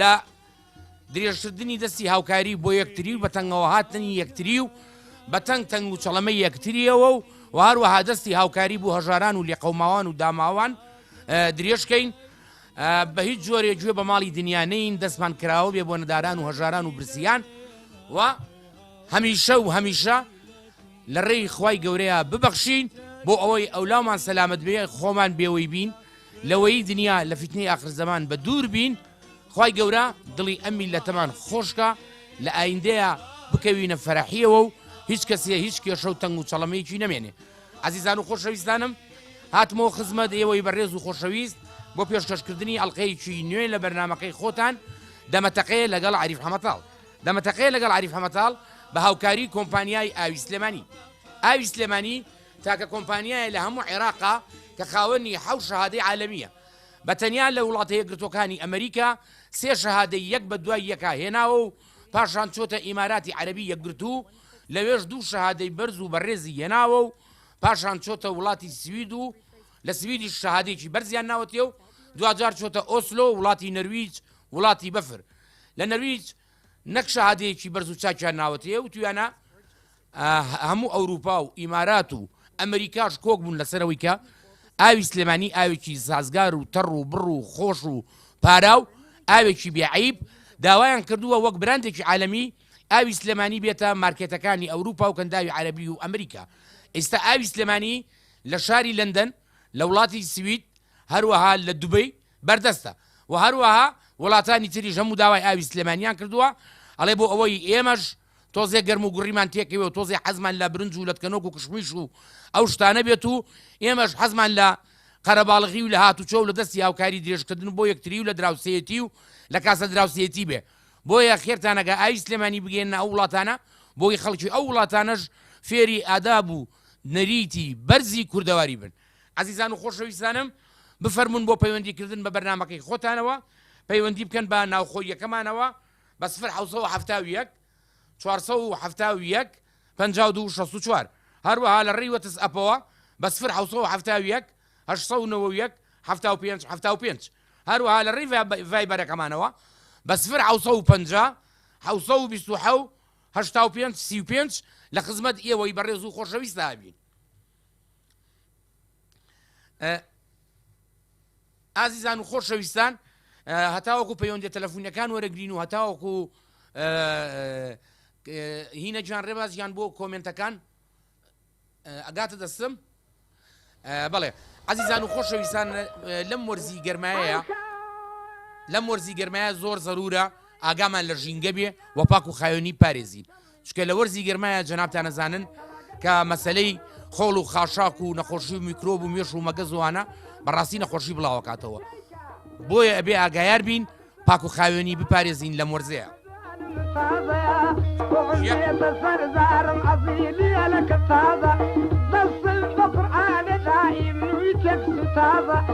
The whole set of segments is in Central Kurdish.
لە درێژکردنی دەستی هاوکاری بۆ یەکتری و بە تەنگەوە هاتنی یەکتری و بە تەنگ تەنگ و چەڵەمە یەکتریەوە و و هەروەها دەستی هاوکاری بۆ هەژاران و لێقەوماوان و داماوان درێژکەین بە هیچ جۆرێ گوێ بە ماڵی دنیانەین دەستمان کراوە بێ بۆ نەداران و هەژاران و برسیان و هەمیشە و هەمیشە لە ڕێی خی گەورەیە ببەخشین بۆ ئەوەی ئەولامان سەلامت بێ خۆمان بێوەی بین لەوەیی دنیا لە فیتنەی ئاخر زەمان بە دوور بین خوای گەورە دڵی ئەم میللەتەمان خۆشکا لە ئایندەیا بکەوینە فەرحیەوە و هیچ کەسێ هیچ کێشە و تەنگ و چەڵەمەیەکی نەمێنێ ئازیزان و خۆشەویستانم هاتمەوە خزمەت ئێوەی بەڕێز و خۆشەویست بۆ پێشکەشکردنی ئەڵلقەیەکی نوێ لە بەرنمەکەی خۆتان دەمەتەقەیە لەگەڵ عریف حەمەتاڵ دەمەتەقەیە لەگەڵ عریف حەمەتاڵ بە هاوکاری کۆمپانیای ئاوی سلێمانی ئاوی سلێمانی تاکە کۆمپانیایە لە هەموو عێراقا کە خاوەنی حەوت شەهادەی عالەمییە، بە تەنیا لە وڵاتەیەکگرتووەکانی ئەمەریکا سێ شەهادەی یەک بە دوای یەکا هێناوە و پاشان چۆتە ئیماراتی عەرەبی یەکگرتوو لەوێش دوو شەهادەی بەرز و بەڕێزی هێناوە و پاشان چۆتە وڵاتی سوید و لە سویدیش شەهادەیەکی بەرزیان ناوەتێ و دواجار چۆتە ئۆسلۆ وڵاتی نەرویج وڵاتی بەفر لە نەرویج نەک شەهادەیەکی بەرز و چاکیان ناوەتەیە وتویانە هەموو ئەوروپا و ئیمارات و ئەمریکاش کۆک بوون لەسەرەوەی کە ئاوی سلێمانی ئاوێکی سازگار و تەڕ و بڕ و خۆش و پارا و ئاوێکی بێعیب داوایان کردووە وەک براندێکی عالەمی ئاوی سلێمانی بێتە مارکێتەکانی ئەوروپا و کەنداوی عەربی و ئەمریکا ئێستا ئاوی سلێمانی لە شاری لەندەن لە وڵاتی سوید هەروەها لە دوبەی بەردەستە و هەروەها وڵاتانی تریش هەموو داوای ئاوی سلێمانیان کردووە، ئەڵێ بۆ ئەوەی ئێمەش تۆزێ گەرم و گوڕیمان تێکەوێ و تۆزێ حەزمان لە برنج و لەتکەنۆک و کشمیش و ئەو شتانە بێت و ئێمەش حەزمان لە قەرەباڵغی و لە هاتوچۆ و لە دەستی هاوکاری درێژکردن بۆ یەکتری و لە دراوسێیەتی و لە کاسە دراوسێیەتی بێ بۆیە خێرتان نەگا ئاوی سلێمانی بگەێننە ئەو وڵاتانە بۆی خەڵکی ئەو وڵاتانەش فێری ئاداب و نەریتی بەرزی کوردەواری بن. ئەزیزان و خۆشەویستانم بفەرموون بۆ پەیوەندی کردن بە بەرنامەکەی خۆتانەوە پەیوەندی بکەن بە ناوخۆییەکەمانەوە بە سفر حەوت سەد و حەفتا و یەک چوار سەد و حەفتا و یەک پەنجا و دوو شەست و چوار هەروەها لە ڕێی وەتس ئەپەوە بە سفر حەوت سەد و حەفتا و یەک هەشت سەد و نەوە و یەک حەفتا و پێنج حەفتا و پێنج هەروەها لە ڕێی ڤایب- ڤایبەرەکەمانەوە بە سفر حەوت سەد و پەنجا حەوت سەد و بیست و حەوت هەشتا و پێنج سی و پێنج لە خزمەت ئێوەی بەڕێز و خۆشەویستدا بین ئازیزان و خۆشەویستان هەتاوەکو پەیوەندە تەلەفونەکان وەرەگرین و هەتاوەکو هینە جان ڕێبازیان بۆ کۆمنتەکان ئەگاتە دەستم بڵێ عزیزان و خۆشەویستان لەم وەرزی گەرمایەیە لەم وەرزی گەرمایە زۆر زەرورە ئاگامان لە ژینگە بێ وەپاک و خایۆنی پارێزی چونکە لە وەرزی گەرمایە جەنابتان ئەزانن کە مەسلەی خۆڵ و خاشاک و نەخۆشی و میکرۆب و مێش و مەگەزوانە بەڕاستی نەخۆشی بڵاوکاتەوە بۆیە ئەبێ ئاگایار بین پاک و خاوێنی بپارێزین لەم وەرزەیە. سەرزارم عەزیلیە لە کە تازە دەستم بە قورآانە دائیم نوی تێکس تازە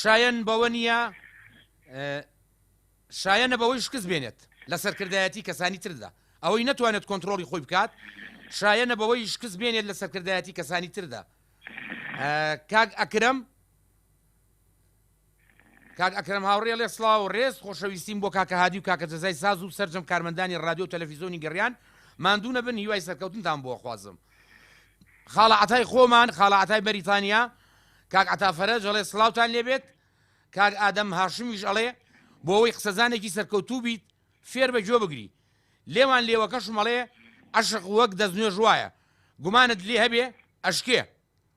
شایەن بەوە نییە شایەنە بەوەی شکست بێنێت لە سەرکردایەتی کەسانی تردا ئەوەی نەتوانێت کۆنتترۆلی خۆی بکات شایەنە بەوەی شکست بێنێت لە سەرکردایەتی کەسانی تردا کاک ئەکرم کاک ئەکرم هاوڕێ لێ سلااو و ڕێز خۆشەویستیم بۆ کاکە هادی و کاکە جەزای ساز و سەررجەم کارمەندانی رادیو تەلەفیزۆنی گەڕیان ماندوونە بن هیوای سەرکەوتنتان بۆخوازم خاڵە عەتای خۆمان خاڵە عەتای بەریتانیا کاک عەتا فەرەج ئەڵێ سڵاوتان لێبێت کاک ئادەم هاشمیش ئەڵێ بۆ ئەوەی قسەزانێکی سەرکەوتوو بیت فێر بە گوێ بگری لێوان لێوەکەشمەڵێ عشق وەک دەستنوێژ وایە گومانت لێ هەبێ ئەشکێ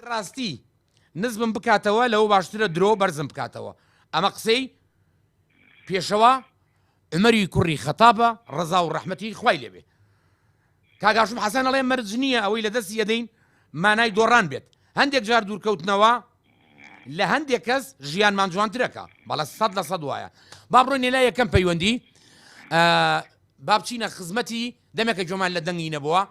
ئەگەر ڕاستی نزمم بکاتەوە لەوە باشترە درۆ بەرزم بکاتەوە ئەمە قسەی پێشەوا عمری کوڕی خەتابە ڕزا و ڕەحمەتی خوای لێبێ کاگاشم حەسەن ئەڵێ مەرج نییە ئەوەی لە دەستی ئەدەین مانای دۆڕان بێت هەندێک جار دوورکەوتنەوە لە هەندێک کەس ژیانمان جوانترەکە بەڵە سەد لە سەد وایە با بڕۆینێ لا یەکەم پەیوەندی بابچینە خزمەتی دەمێکە گوێمان لە دەنگی نەبووە،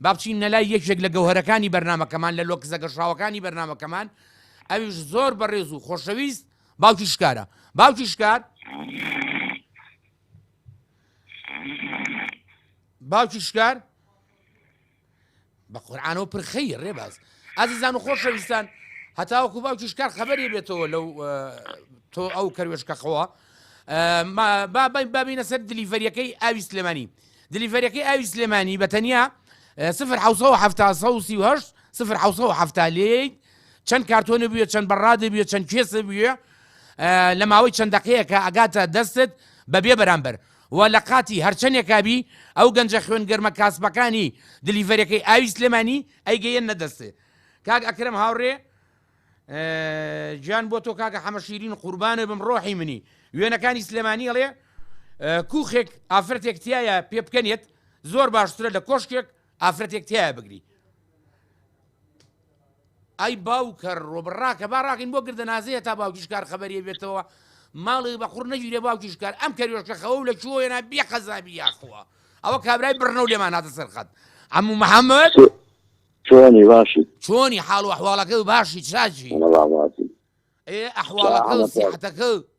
با بچینە لای یەکێک لە گەوهەرەکانی بەرنامەکەمان، لە لۆکسە گەشاوەکانی بەرنامەکەمان، ئەویش زۆر بەڕێز و خۆشەویست، باوکی شکارە. باوکی شکار. باوکی شکار. بە قورعانەوە پرخەیە ڕێباز ئازیزان و خۆشەویستان هەتاوەکو باوکی شکار خەبەری بێتەوە لەو تۆ ئەو کەروێشکەخەوە بابینە سەر دلیڤەریەکەی ئاوی سلێمانی دلیڤەرەکەی ئاوی سلێمانی بە تەنیا سفر سفر هەفتا لێیت چەند کارتۆنە بووە چەند بەڕادە بووە چەند کێسە بووە لە ماوەی چەند دقەیەکە ئەگاتە دەستت بەبێ بەرامبەر و لە قاتی هەرچەنێکا بی ئەو گەنجە خوێن گەرمە کاسبەکانی دلیڤەرێکەی ئاوی سلێمانی ئەیگەیەننە دەستێ کاک ئەکرەم هاوڕێ گیان بۆ تۆ کاکە حەمە شیرین قوربانە بم ڕۆحی منی وێنەکانی سلێمانی ئەڵێ کوخێک ئافرەتێک تایە پێ بکەنێت زۆر باشترە لە کۆشکێک ئافرەتێک تیا بگری ئای باوکە ڕۆب ڕاکە با ڕاکەین بۆ گردە نازەیە تا باوکیش کار خەبەری بێتەوە ماڵی بە قڕ نەگیرێ باوکیش کار ئەم کەریۆشکە خەوە لە چۆیەنا بێ قەزابی یاخوا ئەوە کابرای بڕنە و لێمان هاتە سەرخەت ئەمو محەممەد چۆنی باشی چۆنی حاڵ و حواڵەکە و باشی چاچی ئەحواڵەکە سیحەتەکە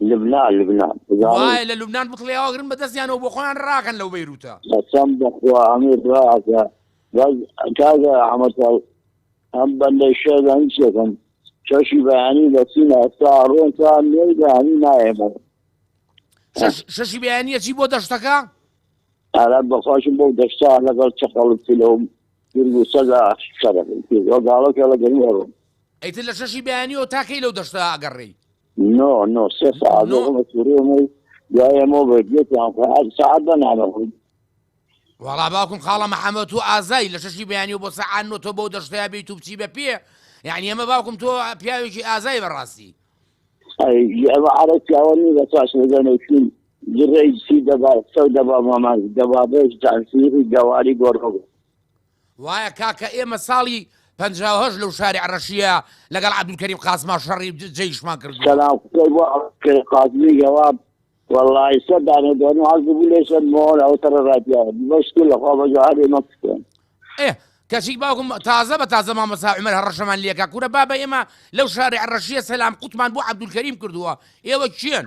لبنان لبنان زانیم. وایە لە لوبنان بکڵێ ئاگرن بە دەستیانەوە بۆ خۆیان ڕاکەن لەو بەیروتە. قەسەم بەخوا ئەمیر ڕاکە بەس کاکە ئەحمەد ئەم بەندەی شێرە هیچ یەکەم شەشی بەیانی بەچینە ئەستا ئەڕۆن تا نۆی بەیانی نایەمەوە شەش شەشی بەیانیە چی بۆ دەشتەکە ئارا بەخواشم بەو دەشتا لەگەڵ چەقەڵت پلەوم گرگو سەدا شەرەکەی پێ وەگاڵەکە لە گەرم ئەڕۆن ئەیتر لە شەشی بەیانیەوە تاکەی لەو دەشتا ئەگەڕێی نۆ نۆ سێ سەعات نۆ. بۆمە سورێمەی دوای ئەمە بێت یەکیان خۆ هەر سەعات بەنانە خۆی وەڵا باوکم خاڵە محەمەد تۆ ئازای لە شەشی بەیانیەوە بۆ سەعات نۆ تۆ بەو دەشتەیا بێیت و بچی بە پێ یعنی ئەمە باوکم تۆ پیاوێکی ئازای بەڕاستی ئەی ئەوە عەرە پیاوە نی بە تاش لەگەنێکین جڕێی سی دەبا سەو دەبا مامان دەبا بەش جانسیری گەواری گۆڕۆ وایە کاکە ئێمە ساڵی پەنجا و هەشت لەو شارع رەشیە لەگەڵ عبدالکریم قاسما شەڕی جەیشمان کردوە. سلام قسەی بۆ عبدالکریم قاسمی گەوا وەڵاهی سەد دانە دەنوو عەرز بوو لێ سەد مۆر ئەو تەڕە ڕادیا بەس تو لە خوا بەجۆ هەرێ مەکسکن ئێ کەچی باوکم تازە بە تازە مامەسا عمر هەڕەشەمان لێکا کورە بابە ئێمە لەو شارع ڕەشیە سەلام قوتمان بۆ عبدالکریم کردووە ئێوە کێن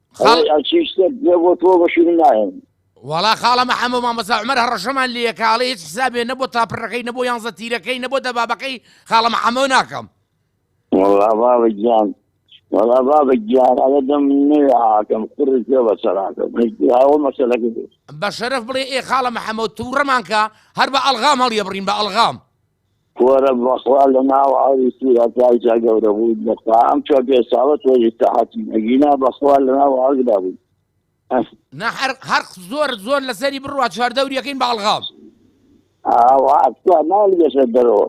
وڵا خاڵە مەحەمە مامەسا عمەر هەڕەشەمان لە کاڵی هیچ حسابێ نەبوو تاپڕەکەی نەبوو یانزە تیرەکەی نەبوو دەبابەکەی خاڵە مەحەمە ناکەم وەڵا بابە گیان ئەگە دەم نوێ ئاکەم قڕی پێ بە سەراکە هاوە مەسەلەکە بە شەرف بڵێ ئێ خاڵە محەممەد تووڕەمانکە هەر بە ئەلغام هەڵیە بڕین بە ئەلغام کورە بەخوا لە ناو ئاوی سورا پارکا گەورە بوویت بەخوا ئەم چوار پێنج ساڵە تۆزی سەحەتین ئەگینا بەخوا لە ناو ئاگدا بووی ئەه. نا هەر هەر زۆر زۆر لەسەری بڕوا چوار دەوری ئەکەین بە ئەڵغام. ئاوا تکا نالی بەسەر دەرەوە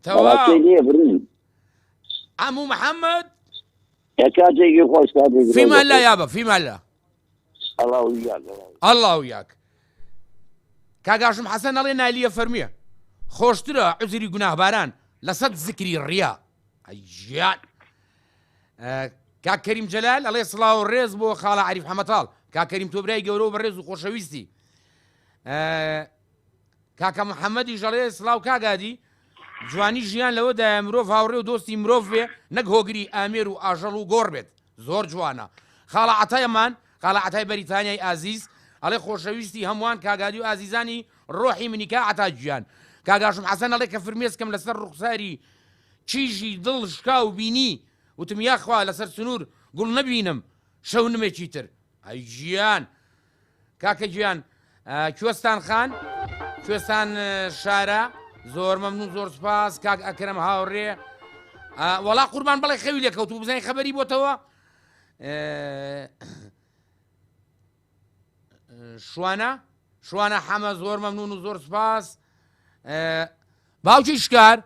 بەڕاستی تەواو لێ بڕیم عەموو محەمەد. کاتێکی خۆش کاتێکی فیما خۆش اللە یابە فیما اللە. ئەڵاو یاک کاگاشم حەسەن ئەڵێ نالیە فەرمیە خۆشترە عزری گوناهباران لەسەد زکری ڕیا ئەیان کاکەریم جەلال ئەڵێ سڵاو و ڕێز بۆ خاڵە عریف حەمەتاڵ کاکەریم تۆبرای گەورە و بەڕێز و خۆشەویستی کاکە محەمەدیش ئەڵێ، سڵاو کاک هادی، جوانی ژیان لەوەدایە مرۆڤ هاوڕێ و دۆستی مرۆڤ بێ نەک هۆگری ئامێر و ئاژەڵ و گۆڕ بێت. زۆر جوانە. خاڵە عەتای ئەمان، خاڵە عەتای بەریتانیای ئازیز، ئەڵێ، خۆشەویستی هەمووان کاک هادی و ئازیزانی ڕۆحی منی کا عەتا گیان. کاک هاشم حەسەن ئەڵێ کە فرمێسکم لەسەر ڕوخساری کیژی دڵ شکاو بینی، وتم یاخوا لەسەر سنوور گوڵ نەبینم شەونمێکی تر. ئەی گیان! کاکە گیان کوێستان خان کوێستان شارە زۆر مەمنون زۆر سپاس کاک ئەکرم هاوڕێ وەڵا قوربان بڵێ خەوی لەکەوت و بزانین خەبەری بۆتەوە شوانە شوانە حەمە زۆر مەمنون و زۆر سپاس باوکی شکار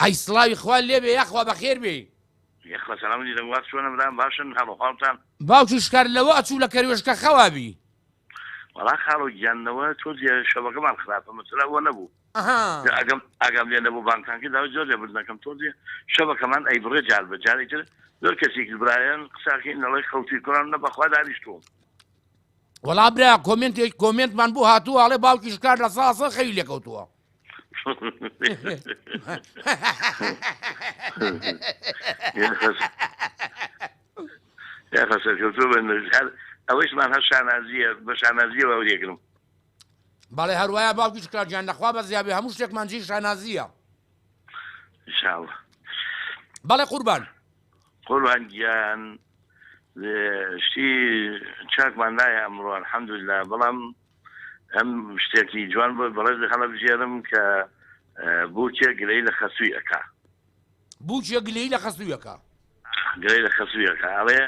ئەی سلاوی خوال لێبێ یاخوا بەخێر بێ یەخوا سەلام علیکم دەم وات چۆنە برام باشن حال و حالتان. باوکی شکار لەوە ئەچوو لە کەروێشکە خەوا بی. وەڵا خاڵۆ گیان لەوە تۆ جێ شەوەکەمان خراپە مەسەلە ئەوە نەبوو جا ئەگەم ئاگام لێ نەبوو بانگتان کرد داوای زۆر لێ بردن ئەکەم تۆ جێ شەوەکەمان ئەیبڕێ جار بە جارێ تر زۆر کەسێکی برایان قساکەین دەڵێ خەوتووی کوڕان نە بەخوا دانیشتووم وەڵا برا کۆمێنتێک کۆمێنتمان بۆ هاتووە ئەڵێ باوکی شکار لە ساسە خەوی لێ کەوتووە. خەسەکەوتۆ بە نەژار ئەوەیشمان هەر شانازیە بە شانازیە و لێگرم بەڵێ هەروایە باوکی شکراجان لەخوا بە زیابێ هەموو شتێکمان جی شانازیە بەڵێ قوربان قوربان گیان شتی چاکمان نایە ئەمڕۆ حەمدلا بەڵام هەم شتێکی جوان بۆ بەڕێز هەڵەبژێرم کە بووکێ گلەی لە خەسووی ئەکا. بووکێ گلەی لە خەسووی ئەکا. گلەی لە خەسووی ئەکا ئەڵێ،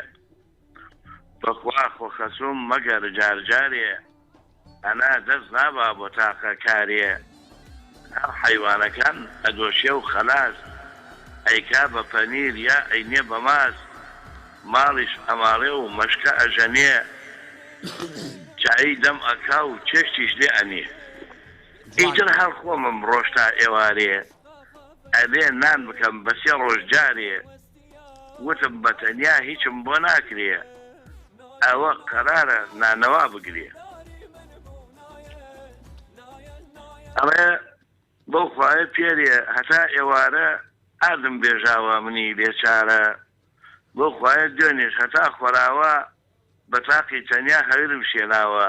بەخوا خۆ خەسووم مەگەر جارجارێ ئەنا دەست نابا بۆ تاقە کارێ. هەر حەیوانەکان ئەدۆشێ و خەلاس. ئەیکا بە پەنیر یا ئەینێ بە ماست. ماڵیش ئەماڵێ و مەشکە ئەژەنێ. چایی دەم ئەکا و چێشتیش لێ ئەنێ. ئیتر هەر خۆمم ڕۆشت تا ئێوارێ. ئەبێ نان بکەم بە سێ ڕۆژ جارێ. وتم بەتەنیا هیچم بۆ ناکرێ ئەوە قەرارە نانەوا بگرێ. ئەڵێ بەو خوایە پێرێ هەتا ئێوارە ئاردم بێژاوە منی بێ چارە بەو خوایە دوێنێش هەتا خۆراوا بە تاقی تەنیا هەورم شێناوە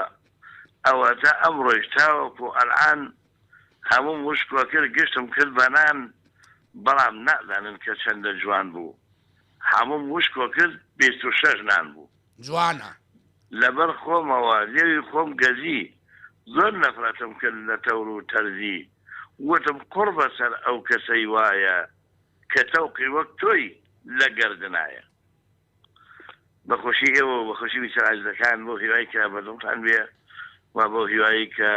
ئەوەتا ئەمڕۆیش تاوەکو ئەلعان هەمووم وشکۆ کرد گشتم کرد بە نان بەڵام نازانن کە چەندە جوان بوو هەمووم وشکۆ کرد بیست و شەش نان بوو. جوانە. لەبەر خۆمەوە لێوی خۆم گەزی زۆر نەفرەتم کرد لە تەور و تەرزی وتم قوڕ بەسەر ئەو کەسەی وایە کە تەوقی وەک تۆی لە گەردنایە. بە خۆشی ئێوە و بە خۆشی میسر عەزیزەکان بەو هیوای کە بەدڵتان بێ و بەو هیوای کە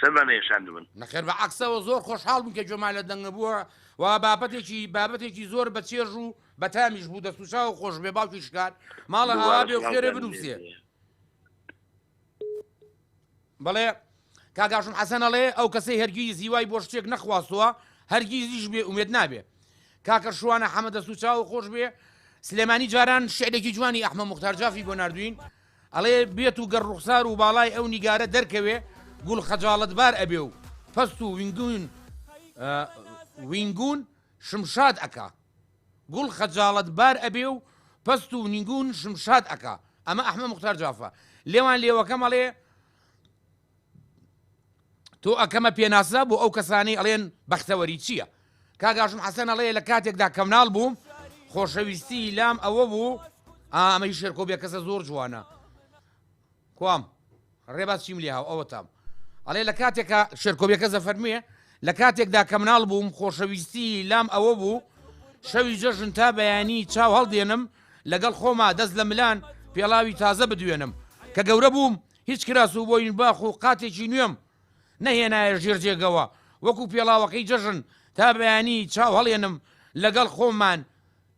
سەرمان نەیەشاندبن. نەخێر بە عەکسەوە زۆر خۆشحاڵ بووین کە گوێمان لە دەنگە بووە و بابەتێکی بابەتێکی زۆر بە چێژ و بە تامیش بوو دەست و چاوو خۆش بێ باوکی شکان ماڵە ئاوا بێ و خێرێ بنووسێ. بەڵێ کاک هاشم حەسەن ئەڵێ ئەو کەسەی هەرگیز هیوای بۆ شتێک نەخواستووە هەرگیزیش بێ ئومێد نابێ کاکە شوانە حەمە دەست و چاو خۆش بێ سلێمانی جاران شعرێکی جوانی ئەحمە مختار جافی بۆ نردوین ئەڵێ بێت و گەر ڕوخسار و باڵای ئەو نیگارە دەرکەوێ گوڵ خەجاڵت بار ئەبێ و پەست و وینگون وینگون شمشاد ئەکا گوڵ خەجاڵەت بار ئەبێ و پەست و نیگوون شم شاد ئەکا ئەمە ئەحمە موختار جافە لێوان لێوەکەم ئەڵێ تۆ ئەکەمە پێناسە بۆ ئەو کەسانی ئەڵێن بەختەوەری چییە کاگاشم حەسەن ئەڵەیە لە کاتێکدا کەمناڵ بووم خۆشەویستی لام ئەوە بوو ئامەی شێرکۆ بێ کەسە زۆر جوانە کوام ڕێباز چیملیهاو ئەوەتام ئەڵێ لە کاتێکا شێرکۆ بێکەس دەفەرموێ لە کاتێکدا کە مناڵ بووم خۆشەویستی لام ئەوە بوو شەوی جەژن تا بەیانی چاو هەڵدێنم لەگەڵ خۆما دەست لە ملان پێڵاوی تازە بدوێنم کە گەورە بووم هیچ کراس و بۆین باخ و قاتێکی نوێم نەهێنایە ژێر جێگەوە وەکو پێڵاوەکەی جەژن تا بەیانی چاو هەڵێنم لەگەڵ خۆمان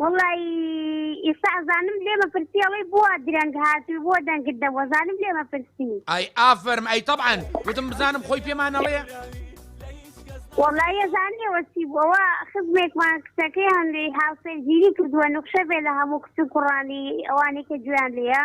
وەڵا ی ئیستا ئەزانم لێ مەپرسی ئەڵێی بۆوا درەنگ هاتوی بۆ دەنگت دەم وەزانم لێ مەپرسی. ئای ئافەرم ئەی تەبعەن وتم بزانم خۆی پێمان ئەڵێ. وەڵا یە زانی ئەوە چی بوو ئەوە خزمێکمان کچەکەی هەندەی هاوسەرگیری کردوە نوخشە بێ لە هەموو کچ و کوڕانی ئەوانەی کە گوێیان لێیە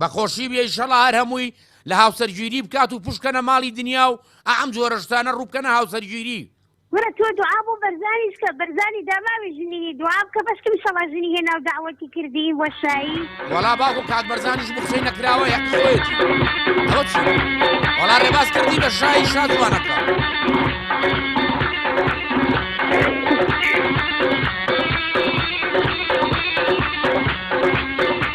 بە خۆشی بێ ئیشەڵا هەر هەمووی لە هاوسەرگیری بکات و پوشکەنە ماڵی دنیا و ئەم جۆرە شتانە ڕووبکەنە هاوسەرگیری. کورە تۆ دوعا بۆ بەرزانیش کە بەرزانی داماوی ژنیی دوعا بکە بەشکم ئیشەڵا ژنی هێناو دەعوەتی کردی بۆشایی. وەڵا باوکو کاک بەرزانیش بو قسەی نەکراوە یەک خۆیەتی ئەوە چی وەڵا ڕێباز کردی بە شایی شازوانەکە.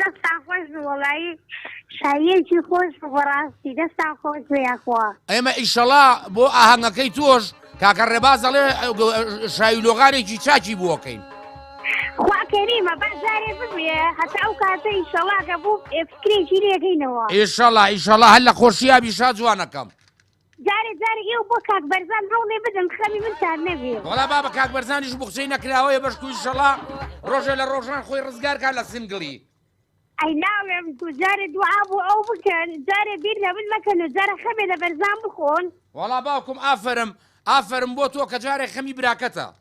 دەستان خۆش بێ وەڵایی شاییەکی خۆش بوو بەڕاستی دەستان خۆش بێ یاخوا. ئێمە ئیشەڵا بۆ ئاهەنگەکەی تۆش کاکە ڕێباز دەڵێ شاوی لۆغارێکی چاکی بووەکەین. خوا کەریمە با جارێ ببێ هەتا ئەو کاتە ئیشەڵا کە بوو فکرێکی لێگەینەوە. ئیشەڵا ئیشەڵا هەر لە خۆشیابی شا جوانەکەم. جارێ جارێ ئێوە بۆ کاک بەرزان هەوڵێ بدەن خەمی من تار نەبێ. وەڵا بابە کاک بەرزانیش بوخچەی نەکراوەیە بەشکو ئیشەڵا ڕۆژێ لە ڕۆژان خۆی ڕزگار کا لە سنگڵی. ئەی ناڵێم کو جارێ دوعا بۆ ئەو بکەن جارێ بیر لە من مەکەن و جارە خەمێ لە بەرزان بخۆن. وەڵا باوکم ئافەرم ئافەرم بۆ تۆ کە جارێ خەمی براکەتە.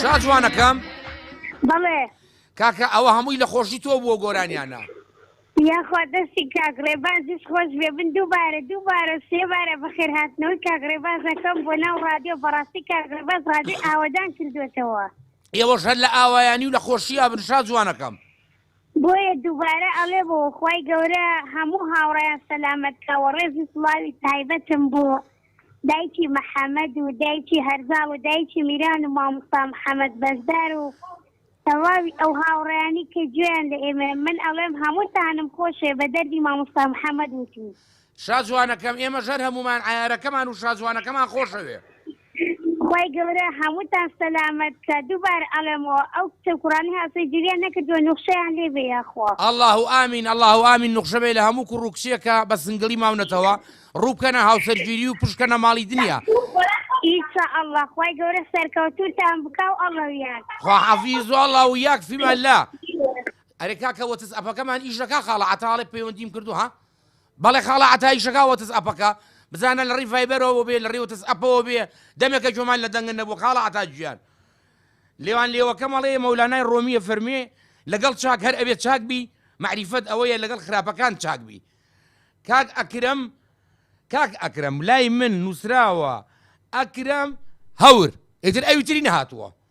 چا جوانەکەم بەڵێ کاکە ئەوە هەمووی لە خۆشی تۆ بووە گۆرانیانە یاخوا دەستی کاگڕێ بازش خۆش بێ من دووبارە دووبارە سێبارە بەخێر هاتنەوەی کاگڕێ بازەکەم بۆ ناو ڕادیۆ بەڕاستی کاگڕێ باز ڕادی ئاوادان کردوێتەوە ئێوەش هەر لە ئاوایانی و لە خۆشی ئەبن شا جوانەکەم. بۆیە دووبارە ئەڵێم و خوای گەورە هەموو هاوڕێیان سەلامەت کا و ڕێز و سڵاوی تایبەتم بۆ دایکی محمد و دایکی هەرزاڵ و دایکی میران و مامۆستا محمد بەشدار و تەواوی ئەو هاوڕێیانی کە گوێیان لە ئێمەیە من ئەڵێم هەمووتانم خۆشێ بە دەردی مامۆستا محمد وتوو. شاجوانەکەم ئێمەش هەر هەموومان عەیارەکەمان و شاجوانەکەمان خۆشەوێ. خوای گەورە هەمووتان سەلامەت کا دووبارە ئەڵێمەوە ئەو کچە و کوڕانەی هاوسەری جێریان نەکردووە نوخشەیان لێ بێ یاخوا. اللە و آمین اللە و آمین نوخشە بێ لە هەموو کوڕ و کچێک کە بە سنگڵی ماونەتەوە ڕوو بکەنە هاوسەرگیری و پشت بکەنە ماڵی دنیا. ان شاء اللە خوای گەورە سەرکەوتووتان بکا و اللە و یاک. خوا حافیز و اللە و یاک فیما اللە. ئەرێ کاکە وەتس ئەپەکەمان ئیش دەکا خاڵە عەتا ئەڵێ پەیوەندیم کردووە ها بەڵێ خاڵە عەتا ئیشەکا وەتس ئەپەکە بزانە لە ڕی ڤایبەرەوە بێ لە ڕێ وەتس ئەپەوە بێ دەمێکە جۆمان لە دەنگن نەبوو خاڵە عەتا گیان لێوان لێوەکە مەڵێ مەولانای ڕۆمیە فەرمێ لەگەڵ چاک هەر ئەوێ چاک بی معریفەت ئەوەیە لەگەڵ خراپەکان چاک بی کاک ئەکرم کاک ئەکرم لای من نووسراوە ئەکرم هەور ئیتر ئەوی تری نەهاتووە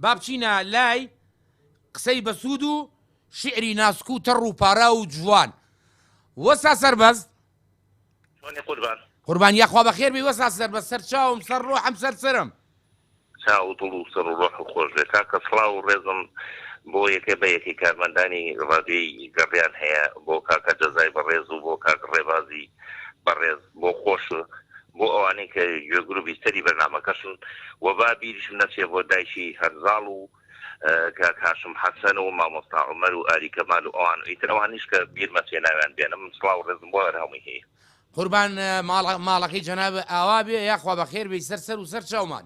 با بچینە لای قسەی بەسوود و شیعری ناسک و تەڕ و پاراو و جوان وەستا سەربەست. جوانی قوربان. قوربان یاخوا بەخێر بێی وەستا سەربەست سەرچاوم سەر ڕۆحم سەر سەرم. چاو و دڵ و سەر و ڕۆحت خۆش بێت کاکە سڵاو و ڕێزم بۆ یەکێ بە یەکەی کارمەندانی ڕادیۆی گەڕیان هەیە بۆ کاکە جەزای بەڕێز و بۆ کاک ڕێبازی بەڕێز. بۆ خۆش و بۆ ئەوانەی کە گوێ گرو بیسەری بەرنامەکەشن و با بیریشم نەچێ بۆ دایکی هەرزاڵ و کاک هاشم حەسەن و مامۆستا عومەر و ئاری کەمال و ئەوان ئیتر ئەوانیش کە بیرمە چێ ناویان بێنم سڵاو و ڕێزم بۆ هەر هەمووی هەیە. قوربان ماڵە ماڵەکەی جەنابت ئاوا بێ یاخوا بەخێر بێی سەر سەر و سەر چاومان.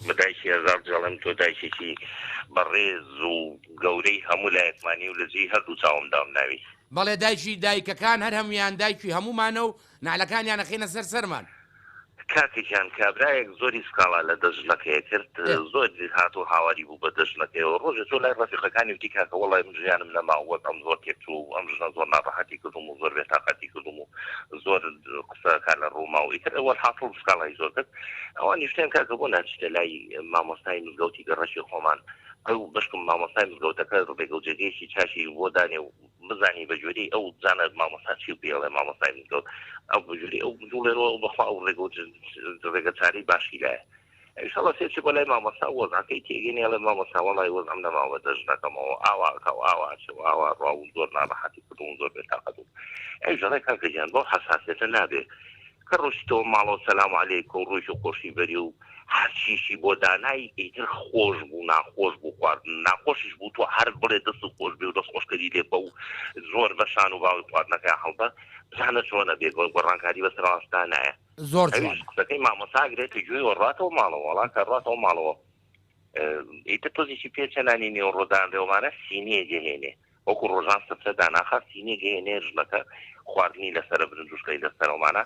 بە دایکی هەزار دەڵێم تۆ دایکێکی بەڕێز و گەورەی هەموو لایەکمانی و لە جێی هەردوو چاوم دام ناوی. بەڵێ دایکی دایکەکان هەر هەموویان دایکی هەموومانە و نەعلەکانیان ئەخەینە سەر سەرمان. کاکە گیان کابرایەک زۆری سکاڵا لە دەست ژنەکەی ئەکرد زۆر هات و هاواری بوو بە دەست ژنەکەیەوە ڕۆژێ چۆ لای ڕەفیقەکانی وتی کاکە وەڵای من ژیانم نەماو وەک ئەم زۆر تێکچوو و ئەم ژنە زۆر ناڕەحەتی کردووم و زۆر بێتاقەتی کردووم و زۆر قسەکان لە ڕووماو ئیتر وەلحاسڵ سکاڵای زۆر کرد ئەوان نیشتیان کاکە بۆ ناچیتە لای مامۆستای مزگەوتی گەڕەکی خۆمان ئەو بەشکم مامۆستای مزگەوتەکە ڕێگە و جێگەیەکی چاشی بۆ دانێ و بزانی بە گوێری ئەو بزانە مامۆستا چی و پێڵێ مامۆستای مزگەوت ئەو بگوێری ئەو بجوڵێنەوە و بەخوا ئەو ڕێگە و ڕێگە چارەی باشی لایە ئیشەڵە سێچی بۆ لای مامۆستا وەزعەکەی تێگەنێڵێ مامۆستا وەڵای وەزعم نەماوە دەژنەکەمەوە ئاواکە و ئاواچە و ئاوا ڕا و زۆر ناڕەحەتی کردوم زۆر بێتاقەت بووم ئەی ژەڕێ کاکە گیان بەو حەساسێتە نابێ کە ڕۆشتەوە ماڵەوە سەلام علیکە و ڕۆیشت خۆشی بەری و هەرچیشی بۆ دانای ئیتر خۆش بوو ناخۆش بوو خواردن ناخۆشیش بوو تۆ هەر بڵێ دەستت خۆش بێ و دەست خۆشکەری لێ بە و زۆر بە شان و باوەی خواردنەکەیا هەڵدە بزانە چۆن ئەبێ گۆ گۆڕانکاری بەس ڕاست دانایە زۆر ئەویش جوانە. قسەکەی مامۆستا ئەگرێ تە گوێی وە ڕاتەوە ماڵەوە وەڵا کە ڕاتەوە ماڵەوە ئیتر تۆزێکی پێ چە نانی نێوەڕۆ دانرێ وەمانە سینیە جێ هێنێ وەکو ڕۆژان سفرە داناخا سینێ گەیەنێ ژنەکە خواردنی لەسەرە برنج و شلەی لەسەرە ومانا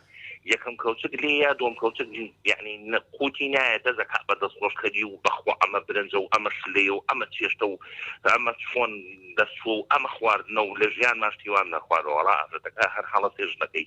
یەکەم کەوچک لێ یا دووەم کەوچک یەعنی قوتی نایە دەزە کەعبە دەست خۆش کەری و بەخوا ئەمە برنجە و ئەمە شلەیە و ئەمە چێشتە و ئەمە چۆن دەست چووە و ئەمە خواردنە و لە ژیانماش هیوام نەخواردوە وەڵا ئافرەتەکە هەر هەڵەسێ ژنەکەی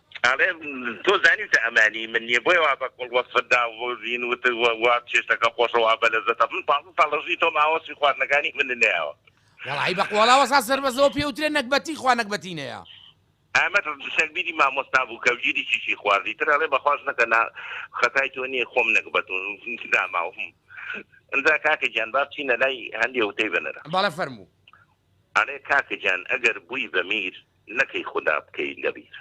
ئەڵێ تۆ زانیوتە ئەمە هی من نیە بۆیە وا بە کوڵ وەسفت دا و هین وتت و وا چێشتەکە خۆشە وا بە لەزەتە من پازدە ساڵ لە ژووی تۆم ئاوا وەسفی خواردنەکانی منت نەیاوە. وەڵا ی بەق وەڵا وەسا سەربەزەوە پێ وترێ نەگبەتی خوا نەگبەتی نەیا. ئەمەت سەربیری مامۆستا بوو کە ژیری چیچی خوارد ئیتر ئەڵێ بەخواش نەکە نا خەتای تۆ نیە خۆم نەگبەت و داماوم ئنجا کاکە گیان با بچینە لای هەندێ وتەی بنەر. بەڵێ فەرموو. ئەڵێ کاکە گیان ئەگەر بووی بە میر نەکەی خودا بکەی لەبیر.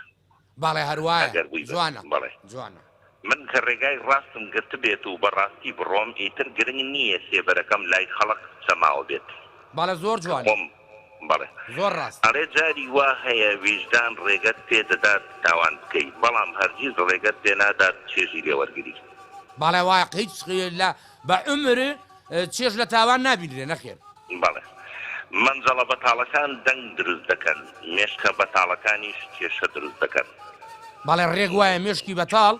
بەڵێ هەروایە ئەگەر بووی بە جوانە بەڵێ. جوانە. من کە ڕێگای ڕاستم گرتبێت و بە ڕاستی بڕۆم ئیتر گرنگ نییە سێبەرەکەم لای خەڵق سەماوە بێت بەڵێ زۆر کە جوانە خۆم بەڵێ. زۆر ڕاستە. ئەڵێ جاری وا هەیە ویژدان ڕێگەت پێ دەدات تاوان بکەی بەڵام هەرگیز ڕێگەت پێ نادات چێژی لێ وەرگری. بەڵێ وایە هیچ لە بە عومر. چێژ لە تاوان نابینرێ نەخێر. بەڵێ. مەنجەڵە بەتاڵەکان دەنگ دروست دەکەن، مێشکە بەتاڵەکانیش کێشە دروست دەکەن. بەڵێ ڕێک وایە مێشکی بەتاڵ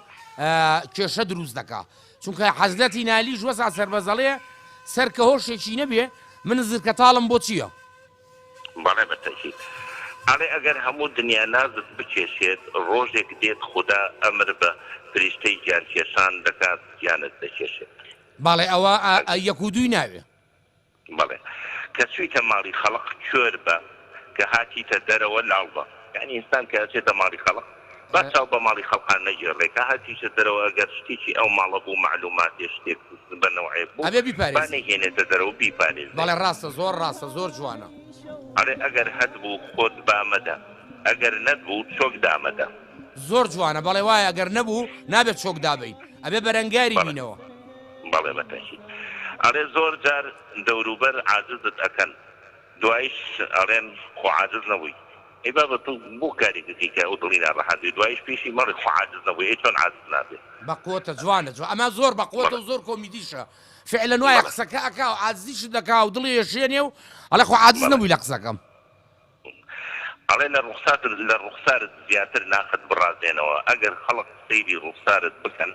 کێشە دروست دەکا چونکە حەزلەتی نالیش وەسا سەربەزەڵێ سەر کە هۆشێکی نەبێ من زرکە تاڵم بۆ چییە؟ بەڵێ بەتەکید ئەڵێ ئەگەر هەموو دنیا نازت بکێشێت ڕۆژێک دێت خودا ئەمر بە فریشتەی گیانکێشان دەکات گیانت دەکێشێت. بەڵێ ئەوە ئە یەک و دووی ناوێ. بەڵێ کە چویتە ماڵی خەڵق کۆر بە کە هاتیتە دەرەوە لاڵ بە یانی ئینسان کە ئەچێتە ماڵی خەڵق با چاو بە ماڵی خەڵقان نەگێڕێ کە هاتیشە دەرەوە ئەگەر شتێکی ئەو ماڵە بوو مەعلوماتێ شتێک بە نەوعێک بوو ئەبێ با بیپارێزی نەیهێنێتە دەرەوە بیپارێزێ. بەڵێ ڕاستە زۆر ڕاستە زۆر جوانە. ئەرێ ئەگەر هەتبوو خۆت با مەدە ئەگەر نەتبوو چۆک دامەدە. زۆر جوانە بەڵێ وایە گەر نەبوو نابێت چۆک دابەین ئەبێ بەرەنگاری بەڵێ بینەوە. بەڵێ بە تەکید ئەڵێ زۆر جار دەوروبەر عاجزت ئەکەن دوایش ئەڵێن خۆ عاجز نەبووی ئەی بابە تۆ بۆ کارێک ئەکەی کە ئەو دڵی ناڕەحەت بێ دوایش پێشی مەڵێ خۆ عاجز نەبووی ئەی چۆن عاجز نابێ. بە قوەتە جوانە جوان ئەمە زۆر بە قوەتە بەڵێ و زۆر کۆمیدیشە فعلەن وایە بەڵێ قسەکە ئەکا و عاجزیشت دەکا و دڵی ئەشێنێ و ئەڵێ خۆ عاجز بەڵێ. نەبووی لە قسەکەم. ئەڵێ لە ڕوخسات لە ڕوخسارت زیاتر ناخت بڕازێنەوە ئەگەر خەڵق سەیری ڕوخسارت بکەن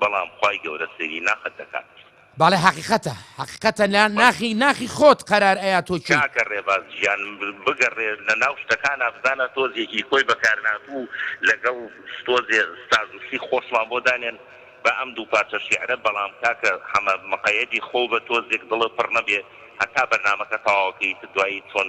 بەڵام خوای گەورە سەیری ناخت دەکات. بەڵێ حەقیقەتە حەقیقەتە لە ناخی ناخی خۆت قەرار ئەیا تۆ کێی. کاکە ڕێباز گیان بگەڕێ لە ناو شتەکانا بزانە تۆزێکی کۆی بەکارناتوو لەگەڵ تۆزێ سازشی خۆشمان بۆ دانێن بە ئەم دوو پارچە شیعرە بەڵام کاکە حەمە مقەیەدی خۆو بە تۆزێک دڵت پڕ نەبێ هەتا بەرنامەکە تەواوەکەیت دوایی چۆن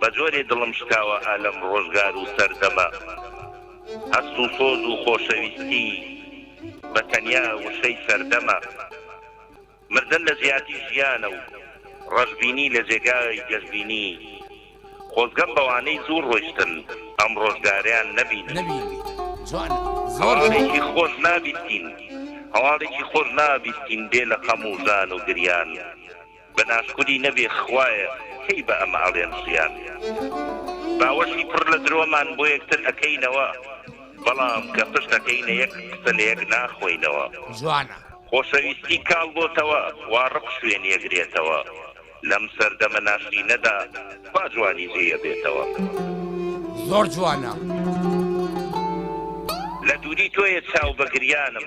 بە جۆرێ دڵم شکاوە ئا لەم ڕۆژگار و سەردەمە هەست و سۆز و خۆشەویستی بە تەنیا وشەی سەردەمە مردن لە جیاتی ژیانە و ڕەشبینی لە جێگای گەشبینی خۆزگەم بەوانەی زوو ڕۆیشتن ئەم ڕۆژگاریان نەبینبیتن هەواڵێکی خۆش نابیستین هەواڵێکی خۆش نابیستین بێ لە خەم و ژان و گریان. بە ناشکوری نەبێ خوایە کەی بە ئەمە ئەڵێن ژیان باوەشی پڕ لە درۆمان بۆ یەکتر ئەکەینەوە بەڵام کە پشت ئەکەینە یەک قسە لە یەک ناخۆینەوە. جوانە. خۆشەویستی کاڵ بۆتەوە وا ڕق شوێنی ئەگرێتەوە لەم سەردەمە ناشرینەدا کوا جوانی جێی ئەبێتەوە. زۆر جوانە. لە دووری تۆیە چاو بە گریانم.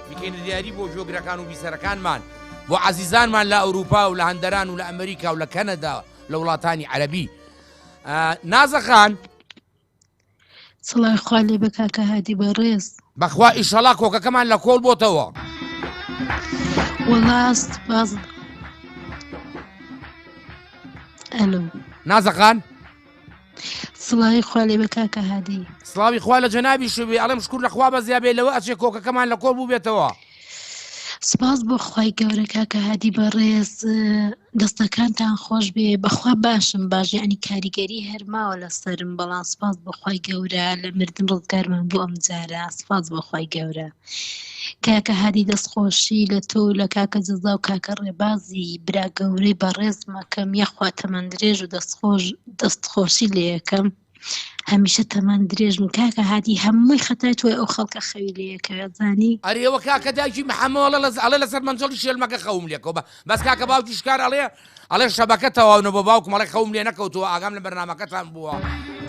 بکەینە دیاری بۆ گوێگرەکان و بیسەرەکانمان، بۆ عەزیزانمان لە ئەوروپا و لە هەندەران و لە ئەمریکا و لە کەنەدا و لە وڵاتانی عەرەبی. نازە خان. سڵاوی خوا لێبێ کاکە هادی بەڕێز. بەخوا ئیشەڵا کۆکەکەمان لە کۆڵ بۆتەوە. وەڵا سپاس. ئەلۆ. نازە خان. سڵاوی خوا لێ بە کاکە هادی سڵاوی خوا لە جەنابی شوێ ئەڵم شکور لە خوا بەزیا بێ لەوە ئەچێ کۆکەکەمان لە کۆڵ بوو بێتەوە سپاس بۆ خی گەورە کاکە هادی بەڕێز دەستەکانتان خۆش بێ بەخوا باشم باژیانی کاریگەری هەرماوە لە سرم بەڵام سپاس بۆ خی گەورە لە مردن ڕزگارمان بۆ ئەم جارە سپاس بۆ خی گەورە کاکە هادی دەست خۆشی لە تۆ و لە کاکە جەزا و کاکە ڕێبازی برا گەورەی بەڕێزم ئەکەم یەخوا تەمەن درێژ و دەست خۆش دەست خۆشی لێ یەکەم هەمیشە تەمەن درێژ بن کاکە هادی هەمووی خەتای تۆی ئەو خەڵکە خەوی لێ یەکەوێت زانی ئەرێ وە کاکە دایکی محەمەوە ئەڵێ لەسەر مەنجەڵی شێلمەکە خەوم لێکەوە بەس کاکە باوکی شکار ئەڵێ ئەڵێ شەبەکە تەواو نەبووە باوکم ئەڵێ خەوم لێ نەکەوتووە ئاگام لە بەرنامەکەتان بووە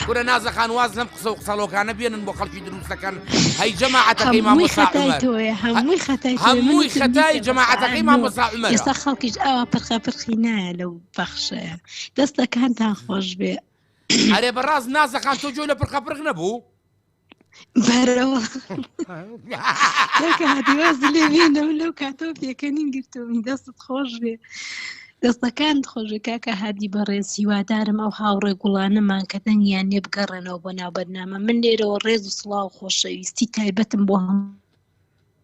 کورە نازە خان واز لەم قسە و قسەڵۆکانە بێنن بۆ خەڵکی دروستەکەن هەی جەماعەتەکەی مامۆستا عومەر هەمووی خەتای هەمووی خەتای جەماعەتەکەی مامۆستا عومەر ئێستا خەڵکیش ئاوا پرخە پرخی نایە لەو بەخشەیە دەستەکانتان خۆش بێ ئەرێ بەڕاست نازەخان تۆ جۆی لە پرخە پرخ نەبوو بەرەوە کاتیواز لێ بێنەوە لەو کاتەوە پێکەنین گرتومی دەستت خۆش بێ دەستەکان خۆشی کاکە هادی بەڕێز هیوادارم ئەو هاوڕێ گوڵانەمان کە دەنگیان نێ بگەڕێنەوە بۆ ناو بەرنامە من لێرەوە ڕێز و سڵاو خۆشەویستی تایبەتم بۆ هەم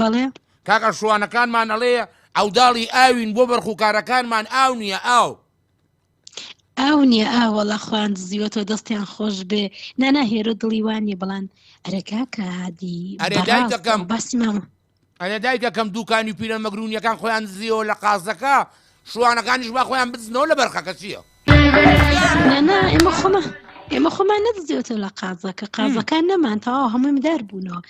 بەڵێ. کاک ئەشوانەکانمان ئەڵێ عەوداڵی ئاوین بۆ بەرخوکارەکانمان ئاو نییە ئاو. ئاو نییە ئاوەڵە خوان دزیوە تۆ دەستیان خۆش بێ نانا هێرۆ دڵی وانە بڵان ئەرەکا کادی ئەرێداکەم بەسمەوە ئەرێ دایکەکەم دوکانی و پیرە مەگرونیەکان خۆیان دزیەوە لە قازەکە شوانەکانیش با خۆیان بدزنەوە لە بەرخەکە چییە؟ نەنا ئێمە خۆمە ئێمە خۆمان نەدزیێتە لە قازەکە قازەکان نەمان تەواو هەمووی مدار بوونەوە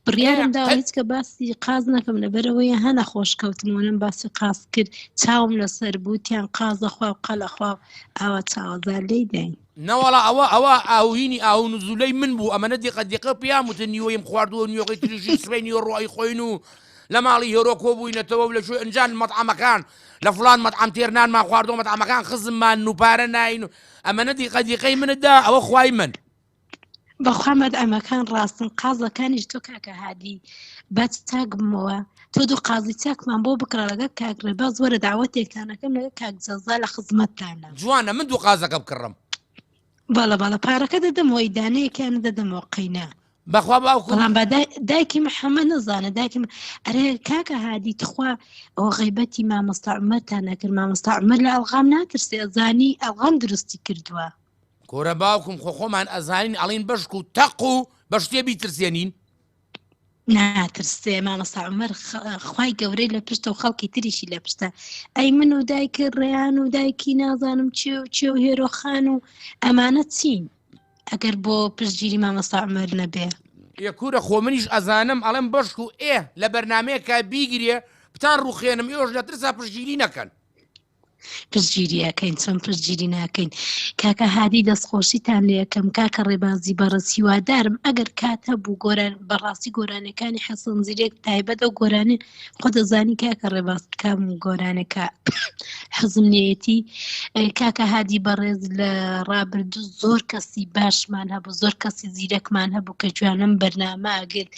بڕیارم دا هیچ کە باسی قاز نەکەم لەبەرەوەی هەنە خۆش کەوتمونم باسی قاز کرد چاوم لەسەر بوتیان قازە خوا و قەلە خوا ئاوا چاوەزار لی داین نەوەڵا ئەوە ئەوە ئاوینی ئاو نزولەی من بوو ئەمەە دیقە دیقە پیام وتە نیوەیم خواردووە نیوەکەی تریژی سبەی نیوە ڕۆی خۆین و لە ماڵی هێرۆکۆ بووینەتەوە لە شوێ ئەنجان مەتعامەکان لە فڵان مەتعەم تێر نانمان خواردوە مەتعەمەکان خزممان و پارە ناین و ئەمەنە دیقە دیقەی منت دا ئەوە خوای من. بەخوا مەدعەمەکان ڕاستن قازەکانیش تۆ کاکە هادی با چاک بمەوە تۆ دوو قازی چاکمان بۆ بکڕە لەگەڵ کاک ڕێباز وەرە داوەتێکتان ئەکەم لەگەڵ کاک جەزا لە خزمەتتانە. جوانە من دوو قازەکە بکڕم. باڵە باڵە پارەکە دەدەم وەی دانەیەکیان دەدەمەوە قەینا بەخوا باوکو بەڵام بە دای- دایکی محەممەد نەزانە دایکی م- ئەرێ کاکە هادی تخوا ئەو غیبەتی مامۆستا عمەرتان نەکرد مامۆستا عمەر لە ئەڵغام ناترسێ زانی ئەڵغام دروستی کردووە کورە باوکم خۆ خۆمان ئەزانین ئەڵین بەشکو تەق و بە شتێ بیترسێنین ناترسێ مامەسا عمر خی گەورەی لە پشتە و خەڵکی تریشی لە پشتە ئەی من و دایکە ڕێیان و دایکی نازانم چێ و چێ و هێرۆخان و ئەمانە چین ئەگەر بۆ پشتگیری مامەسا عمر نەبێ یەکورە خۆ منیش ئەزانم ئەڵم بەشک و ئێ لە بەرنمەیەکە بیگرێ بتان ڕوخێنم ئێوەش لە ترسا پشگیری نەکەن پشتگیری ئەکەین چۆن پشتگیری ناکەین کاکە هادی دەستخۆشیتان لەکەم کاکە ڕێبازی بەڕز هیوادارم ئەگەر کات هەبوو گۆران بەڕاستی گۆرانەکانی حەسەن زیرێک تایبەتە و گۆرانی خۆ دەزانی کاکە ڕێباز کام و گۆرانەکە حەزم لێتی کاکە هادی بەڕێز لە ڕابردوو زۆر کەسی باشمان هەبوو زۆر کەسی زیرەکمان هەبوو کە جوانم بەرنامە ئەگرت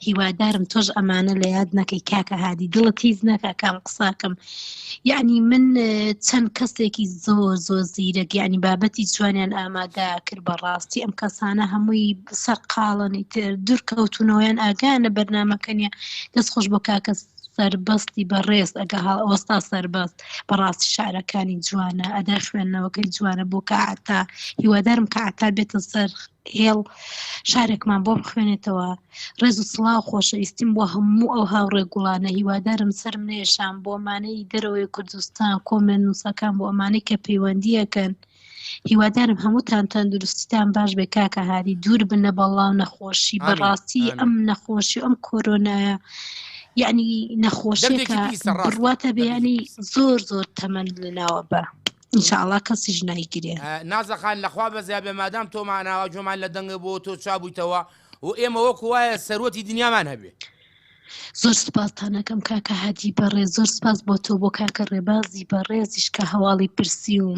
هیوادارم تۆش ئەمانە لە یاد نەکەی کاکە هادی دڵت تیز نەکە کام قساکەم یەعنی من چەند کەسێکی زۆر زۆر زیرەک یەعنی بابەتی جوانیان ئامادە کرد بەڕاستی ئەم کەسانە هەمووی سەرقاڵنی تر دوورکەوتونەوەیان ئاگانە بەرنمەکەنیە دەست خۆش بۆ کاکەس سەربەستی بەڕێز ئەگە هەڵ ئەوەستا سەربەست بەڕاستی شارەکانی جوانە ئەدا خوێندنەوەکەی جوانە بۆ کە ئاتا هیوادارم کە ئاتا بێتە سەر هێڵ شارێکمان بۆ بخوێنێتەوە ڕێز و سڵاو خۆشەویستیم بۆ هەموو ئەو هاوڕێ گوڵانە هیوادارم سرم نێشان بۆ مانەی دەرەوەی کوردستان کۆمێن نووسەکان بۆ ئەمانەی کە پەیوەندیەکەن هیوادارم هەمووتان تەندروستیتان باش بێ کاکە هادی دوور بن لە بەڵاو نەخۆشی بەڕاستی ئەم نەخۆشی ئەم کۆرۆنایە یعنی نەخۆشەکە بڕواتە بیانی زۆر زۆر تەمەند لەناوە بە ئینشاءاللە کەسیش نایگرێ نازە خان لەخوا بەزیا بێ مادام تۆ ماناوە جۆمان لە دەنگە بۆ تۆ چابوویتەوە و ئێمە وەکو وایە سەروەتی دنیامان هەبێ زۆر سپاستانەکەم کاکە هادی بەڕێ زۆر سپاس بۆ تۆ بۆ کاکە ڕێبازی بەڕێزیش کە هەواڵی پرسی و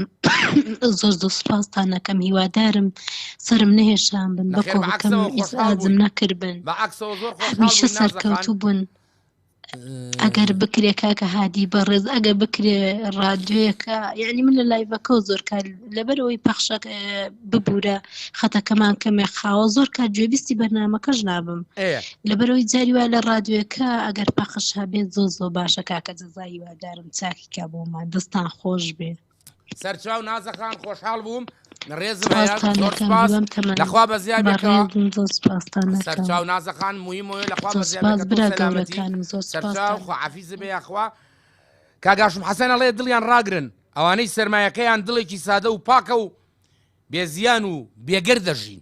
زۆر زۆر سپاستانەکەم هیوادارم سرم نەهێشان بن بەکۆکەم ئازم نەکردبن بە عکسەوە زۆر خۆشمیشە سەرکەوتوو بوون. ئەگەر بکرێ کاکە هادی بەڕێز ئەگەر بکرێ ڕادیۆیەکە یعنی من لە لایڤەکە و زۆر کار لەبەر ئەوی پەخشەک ببوورە خەتەکەمان کەمێ خاوە زۆر کار گوێبیستی بەرنمەکەش نابم لەبەرەوەی جاری وای لە ڕادیۆەکە ئەگەر پەخش هەبێت زۆ زۆ باشە کاکە جەزایی وادارم چاکیکە بۆمان دەستان خۆش بێ سەرچاو نازە خان خۆشحاڵ بووم ڕێزم هەیە زۆر سپاس لەخوا بە زیاد سەرچاو نازە خان مویمۆە لەخوا بە زیاد سەرچاو خۆعافیز بێ یاخوا کاگاشم حەسەنە ڵێ دڵیان ڕاگرن ئەوانەی سرمایەکەیان دڵێکی سادە و پاکە و بێزیان و بێگەر دەژین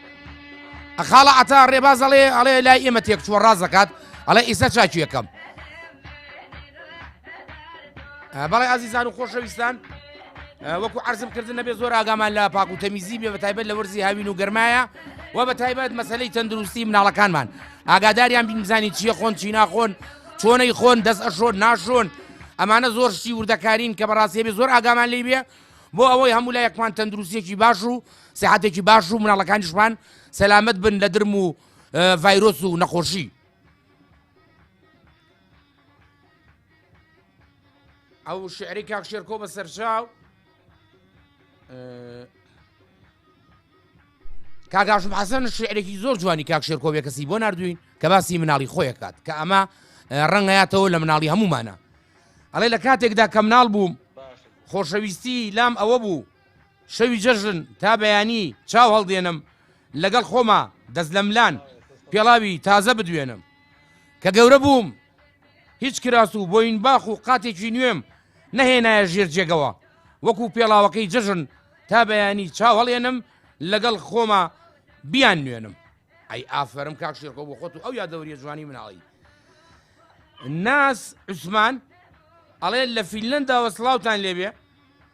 خاڵە عتا ڕێباز ئەڵێ ئەڵێ لای ئێمە تێک چوە ڕاز دەکات ئەڵێ ئیسە چاکی یەکەم بەڵێ ئازیزان و خۆشەویستان وەکو عرضم کردن نەبێ زۆر ئاگامان لە پاک و تەمیزی بێ بە تایبەت لە وەرزی هاوین و گەرمایە و بە تایبەت مەسلەی تەندروستی مناڵەکانمان ئاگاداریان بینزانی چیە خۆن چی ناخۆن چۆنەی خۆن دەست ئەشۆن ناشۆن ئەمانە زۆر شتی وردەکارین کە بەڕاستێبێ زۆر ئاگامان لی بێ بۆ ئەوەی هەموو لایەکمان تەندروستێکی باش و سیحەتێکی باش و مناڵەکانیشمان سەلامەت بن لە درم و ڤایرۆس و نەخۆشی ئەو شعری کاک شێرکۆ بە سەرچاو کاگاشم حەسەن شعرێکی زۆر جوانی کاک شێرکۆبێ کەسی بۆ نردوین کە باسی مناڵی خۆی کات کە ئەمە ڕەنگەیاتەوە لە مناڵی هەمومانە ئەڵێ لە کاتێکدا کە مناڵ بووم خۆشەویستی لام ئەوە بوو شەوی جەژن تا بەیانی چاو هەڵدێنم لەگەڵ خۆما دەست لەملان پێڵاوی تازە بدوێنم کە گەورە بووم هیچ کراس و بۆین باخ و قاتێکی نوێم نەهێنایە ژێر جێگەوە وەکو پێڵاوەکەی جەژن تا بەیانی چاوەڵێنم لەگەڵ خۆما بیان نوێنم ئەی ئافرم کاک شێرکۆ بۆ خۆت و ئەو یادەوریە جوانی مناڵی ناس عوسمان ئەڵێ لە فیلەندا وە سلااوان لێبێ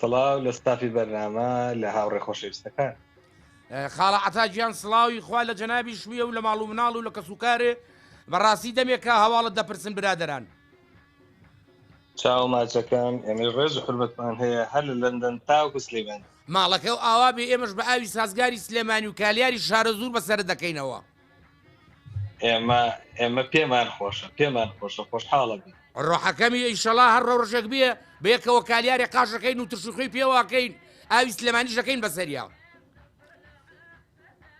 سڵاو لە ستافی بەرنامە لە هاوڕێ خۆشەویستەکان خاڵە عتا گیان سڵاوی خوا لە جەنابی شویە و لە ماڵ و مناڵ و لە کەسوکارێ بەڕاستی دەمێکە هەواڵت دەپرسن برادران چاو ماچەکەم ئێمە ڕێز حرمەتمان هەیە هەر لە لەندەن تاوکو سلێمان ماڵەکە و ئاوا بێ ئێمەش بە ئاوی سازگاری سلێمانی و کالیاری شارە زور بەسرە دەکەینەوە ئێمە ئێمە پێمان خۆشە پێمان خۆشە خۆشحاڵە بی ڕۆحەکەمی ئیشەڵا هەر ڕەوڕژێک بێ بەیەکەوە کالیارێ قاشەکەین و ترشوخی پێواکەین ئاوی سلێمانی شەکەین بەسەریا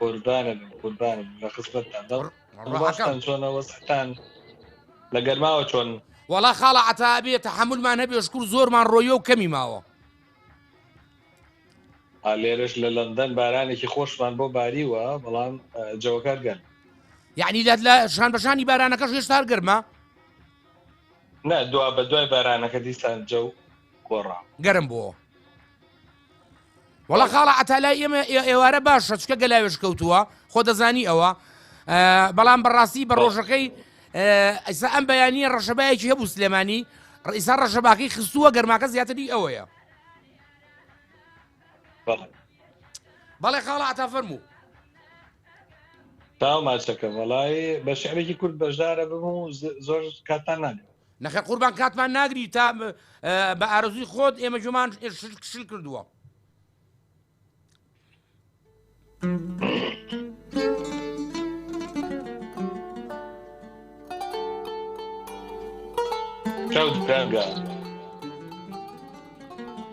قوربانە قوربانم لە خزمەتتان دەڵ ڕۆحەکەم چۆنەوە سەتان لە گەرماوە چۆن وەڵا خاڵە عتابێ تحملمان هەبێ شکر زۆرمان ڕۆیە و کەمی ماوە لێرەش لە لەندەن بارانێکی خۆشمان بۆ باریوە بەڵام جەوەکە گەن یعنی لات لە ژان بەژانی بارانەکەش هێشتار گەرمە نا دوا بە دوای بارانەکە دیسان جە و گۆڕا گەرم بۆ وڵا خاڵە ئەتالای ئێمە ئێوارە باشە چکە گەلاوێش کەوتووە خۆ دەزانی ئەوە بەڵام بەڕاستی بە ڕۆژەکەی ئیسا ئەم بەیانیە ڕەشەبایەکی هەبوو سلێمانی ڕئیسا ڕەشەباکەی خستووە گەرماکە زیاتری ئەوەیە بەڵێ خاڵە عتا فەرموو تاو ماچەکە وەڵی بە شعرێکی کورد بەشدارە بم و زۆر کاتان ناگرم نەخە قوربان کاتمان ناگری تا بە ئارزوی خۆت ئێمە جومان شل کردووە کەوت درەنگە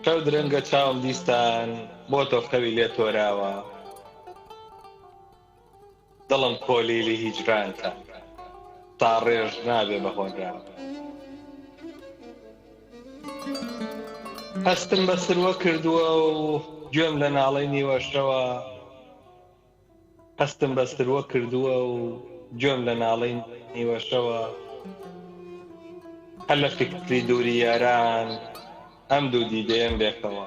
کەوت درەنگە چاوم دیسان بۆ تۆ خەوی لێ تۆراوە دڵم کۆلیلی هیجرانتە تا ڕێژ نابێ بە هۆنران. هەستم بە سروە کردووە و گوێم لە ناڵەی نیوەشەوە هەستم بە سروە کردووە و گوێم لە ناڵەی نیوەشەوە هەر لە فیکری دووری یاران ئەم دوو دیدەیەم لێکەوە.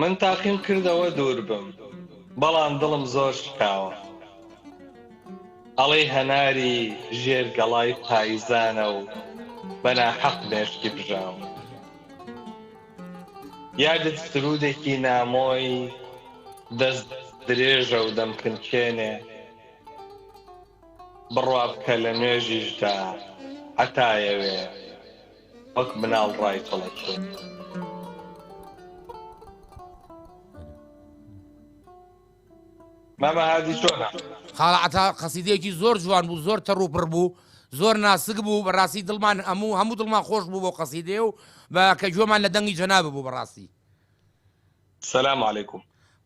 من تاقیم کردەوە دوور بم بەڵام دڵم زۆر شکاوە ئەڵێی هەناری ژێر گەڵای پایزانە و بەناحەق مێشکی بژاوە یادت سرودێکی نامۆی دەست درێژە و دەمکنچێنێ، بڕوابکە لە نوێژیشدا هەتا یەوێ وەک مناڵ ڕایچڵەکێ. مامە هادی چۆنە؟ خاڵە عەتا قەسیدەیەکی زۆر جوان بوو زۆر تەڕ و پڕ بوو زۆر ناسک بوو بەڕاستی دڵمان هەموو هەموو دڵمان خۆش بوو بۆ قەسیدێ و بە کە گوێمان لە دەنگی جەنابە بوو بەڕاستی سلام علیکم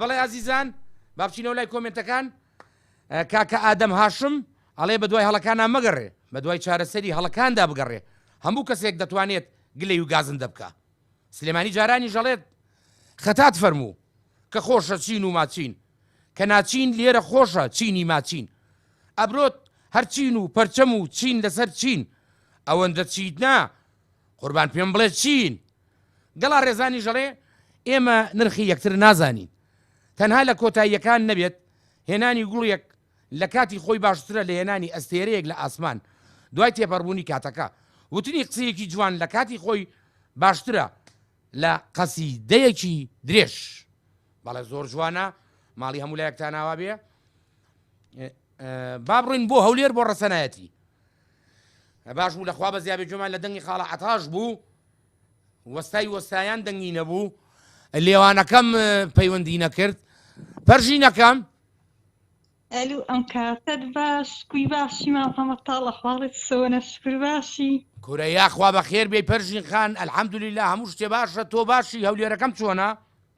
بەڵێ ئازیزان با بچینەوە لای کۆمێنتەکان کاکە ئادەم هاشم ئەڵێ بە دوای هەڵەکانە مەگەڕێ بە دوای چارەسەری هەڵەکاندا بگەڕێ هەموو کەسێک دەتوانێت گلەی و گازن دەبکە سلێمانی جارانی ژەڵێت خەتات فەرموو کە خۆشە چین و ماچین کە ناچین لێرە خۆشە چینی ماچین ئەبرۆت هەرچین و پەرچەم و چین لەسەر چین ئەوەندە چیت نا قوربان پێم بڵێ چین گەڵا ڕێزانی ژەڵێ ئێمە نرخی یەکتر نازانین تەنها لە کۆتاییەکان نەبێت هێنانی گوڵیەک لە کاتی خۆی باشترە لە هێنانی ئەستێرەیەک لە ئاسمان دوای تێپەڕبوونی کاتەکە وتنی قسەیەکی جوان لە کاتی خۆی باشترە لە قەسی دەیەکی درێژ بەڵێ زۆر جوانە ماڵی هەموو لایەکتانناوا بێ بابڕین بۆ هەولێر بۆ ڕەسەنایەتی باش بوو لە خوا بەزیا بێ گوێمان لە دەنگی خاڵە عەتاش بوو وەستای وەستایان دەنگی نەبوو لێوانەکەم پەیوەندی نەکرد پەرژینەکەم ئەلو ئەم کاتەت باش کوی باشی مام هەمە تاڵە خواڵێت سەوەە شکر باشی کورە یاخوا بە خێر بێ پەرژین خان ئەلحەمدولی لە هەموو شتێ باشە تۆ باشی هەولێرەکەم چۆنا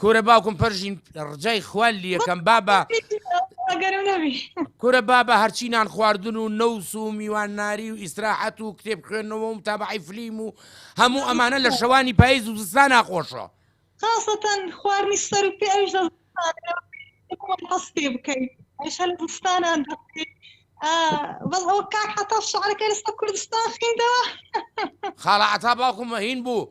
کورە باوکم پەرژین ڕجای خوال لیەکەم بابە کورە بابە هەرچی نان خواردن و نەوس و میوان ناری و ئیسراحەت و کتێب خوێندنەوە و تابعی فلیم و هەموو ئەمانە لە شەوانی پاییز و زستان ناخۆشە خاصەتەن خواردنی سەر و پێ ئەوش هەستێ بکەیت ئەش هەل زستانان دەکەیت بەڵ ئەو کاک حتا شعرەکە لەستا کوردستان خیندەوە خاڵە عتا باوکم مەهین بوو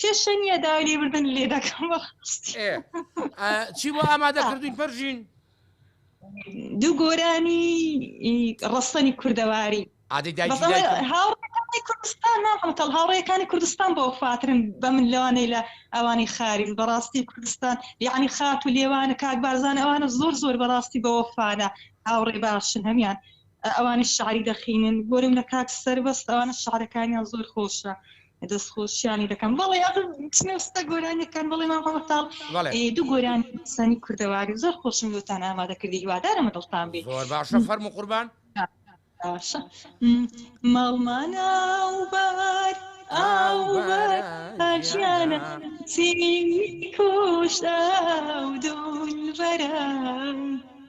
کێشە نییە داوای لێبردن لێ دەکەم چی بۆ ئامادە کردوین پەرژین دوو گۆرانی ڕستەنی کوردەواری کوردستان ناڵکەڵ هاوڕێەکانی کوردستان بۆ فاترن بە من لەوانەی لە ئەوانی خاریم بەڕاستی کوردستان یعنی خات و لێوانە کاک بارزان ئەوانە زۆر زۆر بەڕاستی بەوەفاانە هاوڕێ باشن هەمان ئەوانیش شعری دەخینن بۆرم لە کاک سەربەست ئەوانە شعرەکانیان زۆر خۆشە دەست خۆشیانی دەکەم بەڵێ ئەبم چنە ستە گۆرانیەکان بەڵێ مام هەڵەتاڵ بەڵێ دوو گۆرانی سەنی کوردەواری زۆر خۆشم لۆتان ئامادە کردی هیوادارم بە دڵتان بێ زۆر باشە فەرموو قوربان باشە ماڵمانە و بار ئاوبەرژیانە سینی کۆشدا و دولبەرە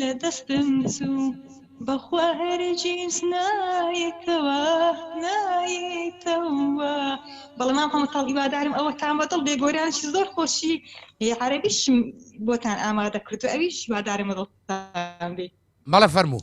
لە دەستم چوو بەخوا هەرگیز نایەتەوە نایەتەوە. بەڵێ مام هەمەتاڵ هیوادارم ئەوەتان بەدڵ بێ گۆرانیی زۆر خۆشی عەرەبیشم بۆتان ئامادە کردووە ئەویش هیوادارم بەدڵتان بێ. بەڵێ فەرموو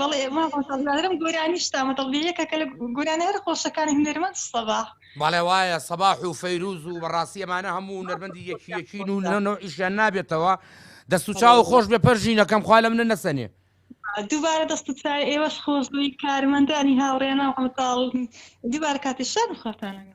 بەڵێ ماڵم گۆرانی شتامە دڵبی یەکەکە لە گۆرانە هەر خۆشەکانی هونەرمەند سەبا بەڵێ وایە سەباح و فەیروز و بەڕاستی ئەمانە هەموو نەرمەندی یەکی یەکین و نەنۆ ئیشیان نابێتەوە دەست و چاو خۆش بێ پەرژینەکەم خوا لە منە نەسەنێ دووبارە دەست چای ئێوەش خۆش بووی کارمەندانی هاوڕێنە هەمتاڵ دووبار کاتی شان خۆتانە